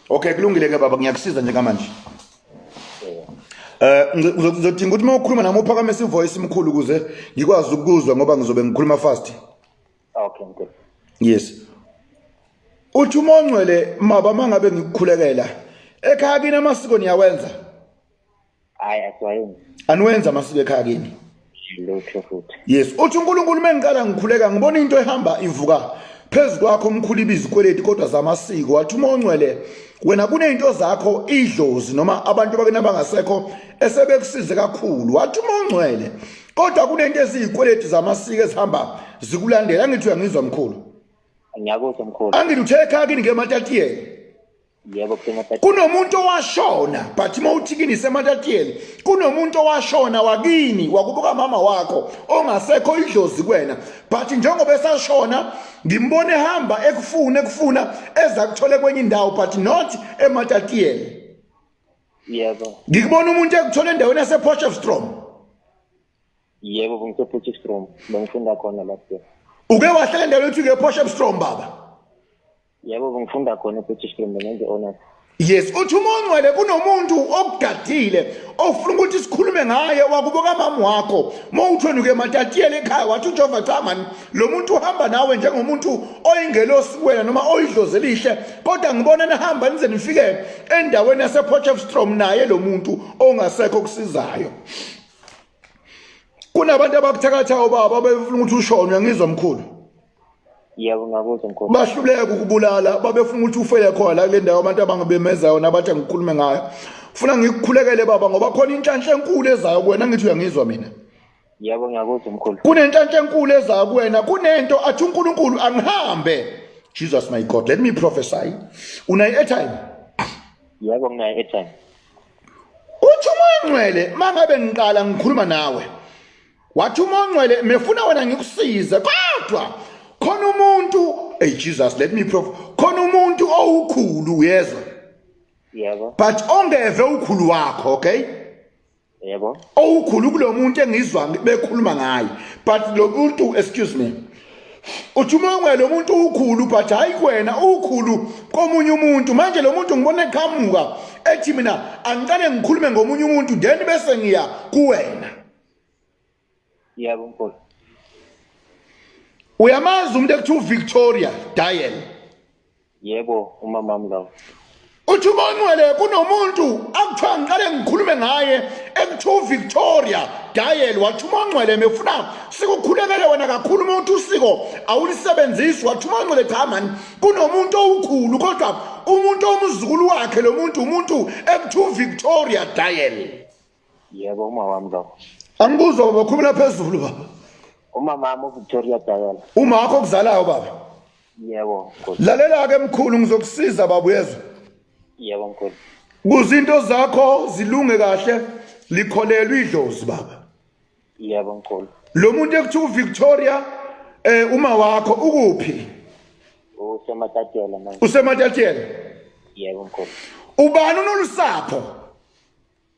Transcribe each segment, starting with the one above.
Okay kulungile ke baba ngiyakusiza njengamanje. Eh ngizodinga ukuthi uma ukhuluma nami uphakamisa ivoice mkhulu ukuze ngikwazi ukuzwa ngoba ngizobe ngikhuluma fast. Okay mkhulu. Yes. Uthi uma ongcwele maba mangabe ngikukhulekela ekhaya kini amasiko niyawenza. hayi asiwayenzi aniwenza amasiko ekhaya kini lutho futhi yes uthi uNkulunkulu mengiqala ngikhuleka ngibona into ehamba ivuka phezu kwakho umkhulu ibizikweleti kodwa zamasiko wathi uma ongcwele wena kunezinto zakho idlozi noma abantu bakena bangasekho esebekusize kakhulu wathi uma ongcwele kodwa kunento eziyikweleti zamasiko ezihamba zikulandela angithi uyangizwa mkhulu ngiyakuzwa mkhulu angithi uthe ekhaya kini ngematatiye yebo kunomuntu owashona but uma uthi kini sematatiyeli kunomuntu owashona wakini wakubuka mama wakho ongasekho idlozi kuwena but njengoba esashona ngimbone ehamba ekufuna ekufuna eza kuthole kwenye indawo but not ematatiyeli yebo ngikubona umuntu ekuthole endaweni yasepotchefstrom yebo bengisepotchefstrom bengifunda khona lapho uke wahlala endaweni ethi ke potchefstrom baba yebo ngifunda khona ebritish kingdom ngenze honors yes uthi uma ungcwele kunomuntu okugadile ofuna ukuthi sikhulume ngaye wakubo kamama wakho uma uthonuke ematatiele ekhaya wathi ujehova cha mani lo muntu uhamba nawe njengomuntu oyingelosi kuwena noma oyidlozi elihle kodwa ngibona nihamba nize nifike endaweni yasepotchefstrom naye lo muntu ongasekho kusizayo kunabantu abakuthakathayo baba befuna ukuthi ushonwe ngizwa mkhulu yebo ngakuzwa nkosi bahluleka ukubulala babefuna ukuthi ufele khona la kule ndawo abantu abangibemeza yona abathi angikhulume ngayo funa ngikukhulekele baba ngoba khona inhlanhla enkulu ezayo kuwena ngithi uyangizwa mina yebo ngiyakuzwa mkhulu kunenhlanhla enkulu ezayo kuwena kunento athi unkulunkulu angihambe jesus my god let me prophesy unayo airtime yebo nginayo airtime uthi umoya ongcwele mangabe ngiqala ngikhuluma nawe wathi uma ongcwele mefuna wena ngikusize kodwa khona umuntu hey Jesus let me prove khona umuntu owukhulu uyezwa yebo but ongeve ukhulu wakho okay yebo owukhulu kulomuntu engizwa bekhuluma ngaye but lo muntu excuse me uthi uma ungwele umuntu ukhulu but hayi kwena ukhulu komunye umuntu manje lo muntu ngibona eqhamuka ethi mina angicane ngikhulume ngomunye umuntu then bese ngiya kuwena yebo mfowethu uyamazi umuntu ekuthiwa uvictoria dial yebo umama wami lawo uthi uma ungcwele kunomuntu akuthiwa ngiqale ngikhulume ngaye ekuthiwa uvictoria dial wathi uma ungcwele mefuna sikukhulekele wena kakhulu uma uthi usiko awulisebenzisi wathi uma ungcwele cha mani kunomuntu owukhulu kodwa umuntu omuzukulu wakhe lo muntu umuntu ekuthiwa uvictoria dial yebo uma wami lowo angibuzwa baba khulumela phezulu baba umama wami uvictoria dayela uma wakho okuzalayo baba yebo nkosi lalela-ke mkhulu ngizokusiza baba uyezwa yebo nkosi kuze into zakho zilunge kahle likholelwa idlozi baba yebo nkosi lo muntu ekuthiwa uvictoria um uma wakho ukuphi usematatela manje usematatiyela yebo nkosi ubani unolusapho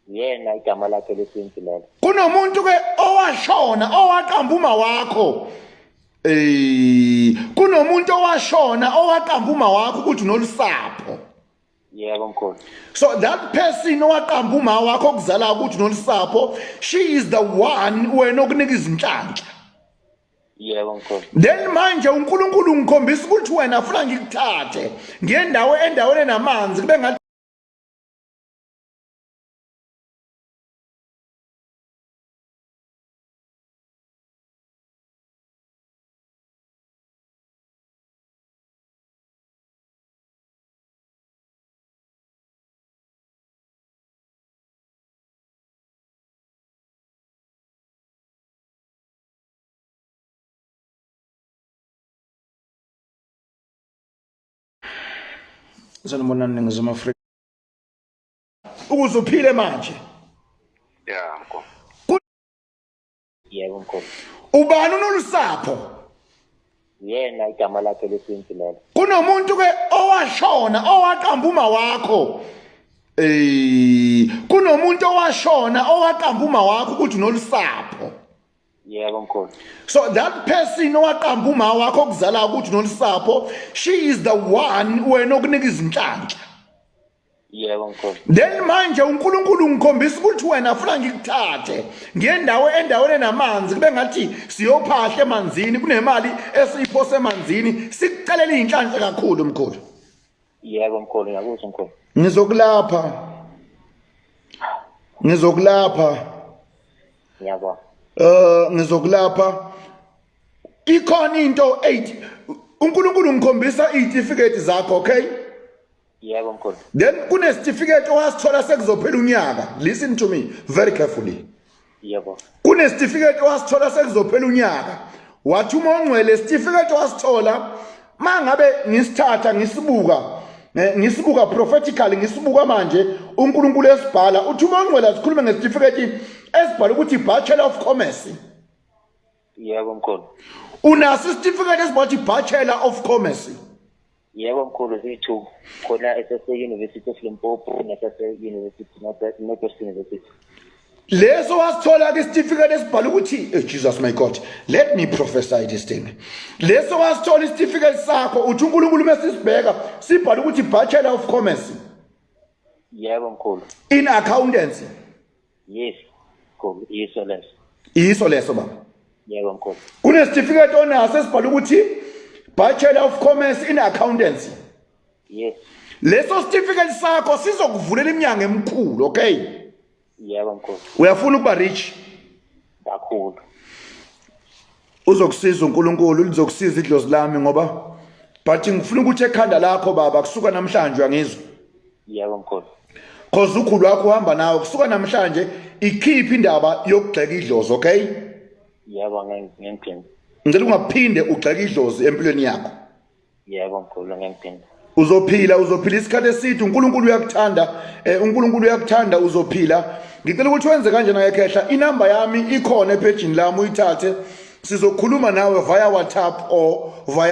yena igama lakhe lesintu lelo kunomuntu ke owashona owaqamba uma wakho eh kunomuntu owashona owaqamba uma wakho ukuthi nolusapho yebo mkhulu so that person owaqamba uma wakho okuzala ukuthi nolusapho she is the one wena okunika izinhlanhla yebo mkhulu then manje uNkulunkulu ungikhombisa ukuthi wena ufuna ngikuthathe ngiyendawo endaweni enamanzi kube ngathi Sanibonani Ningizimu Afrika. ukuze uphile manje ya mkhulu yebo mkhulu ubani unolusapho yena igama lakhe lesintu lelo kunomuntu ke owashona owaqamba uma wakho eh kunomuntu owashona owaqamba uma wakho ukuthi unolusapho yebo mkhulu so that person owaqamba uma wakho okuzala ukuthi nolisapho she is the one wena okunika izinhlanhla yebo mkhulu then manje uNkulunkulu ungikhombisa ukuthi wena ufuna ngikuthathe ngendawo endaweni enamanzi kube ngathi siyophahla emanzini kunemali esiyiphose emanzini sikucelela izinhlanhla kakhulu mkhulu yebo mkhulu ngiyakuzwa mkhulu ngizokulapha ngizokulapha ngiyabona eh ngizokulapha ikhona into 8 uNkulunkulu ngikhombisa izitifiketi zakho okay yebo mkhulu then kunesitifiketi owasithola sekuzophela unyaka listen to me very carefully yebo kunesitifiketi owasithola sekuzophela unyaka wathi uma ongcwele isitifiketi owasithola mangabe ngisithatha ngisibuka eh, ngisibuka prophetically ngisibuka manje uNkulunkulu esibhala uthi uma ongcwele azikhulume ngesitifiketi esibhala ukuthi bachelor of commerce yebo mkhulu unaso isitifiketi esibathi bachelor of commerce yebo mkhulu ziyi-two khona esase-university of limpopo nasase-university northwest university leso wasithola ke isitifiketi esibhala ukuthi eh, jesus my god let me prophesy this thing leso wasithola isitifiketi sakho uthi unkulunkulu uma sisibheka sibhala ukuthi bachelor of commerce yebo mkhulu in accountancy yes mkhulu iso leso iso leso baba yebo mkhulu kunesitifiketi onaso esibhala ukuthi bachelor of commerce in accountancy yes leso sitifiketi sakho sizokuvulela iminyango emkhulu okay yebo mkhulu uyafuna ukuba rich kakhulu uzokusiza uNkulunkulu lizokusiza idlozi lami ngoba but ngifuna ukuthi ekhanda lakho baba kusuka namhlanje angizwa yebo mkhulu cause ukhulu wakho uhamba nawe kusuka namhlanje ikhiphe indaba yokugxeka idlozi okay yebo ngengithini ngicela ungaphinde ugxeka idlozi empilweni yakho yebo mkhulu ngemphinda uzophila uzophila isikhathi eside uNkulunkulu uyakuthanda eh uNkulunkulu uyakuthanda uzophila ngicela ukuthi wenze kanjena yekhehla inamba yami ikhona ephejini lami uyithathe sizokhuluma nawe via WhatsApp or via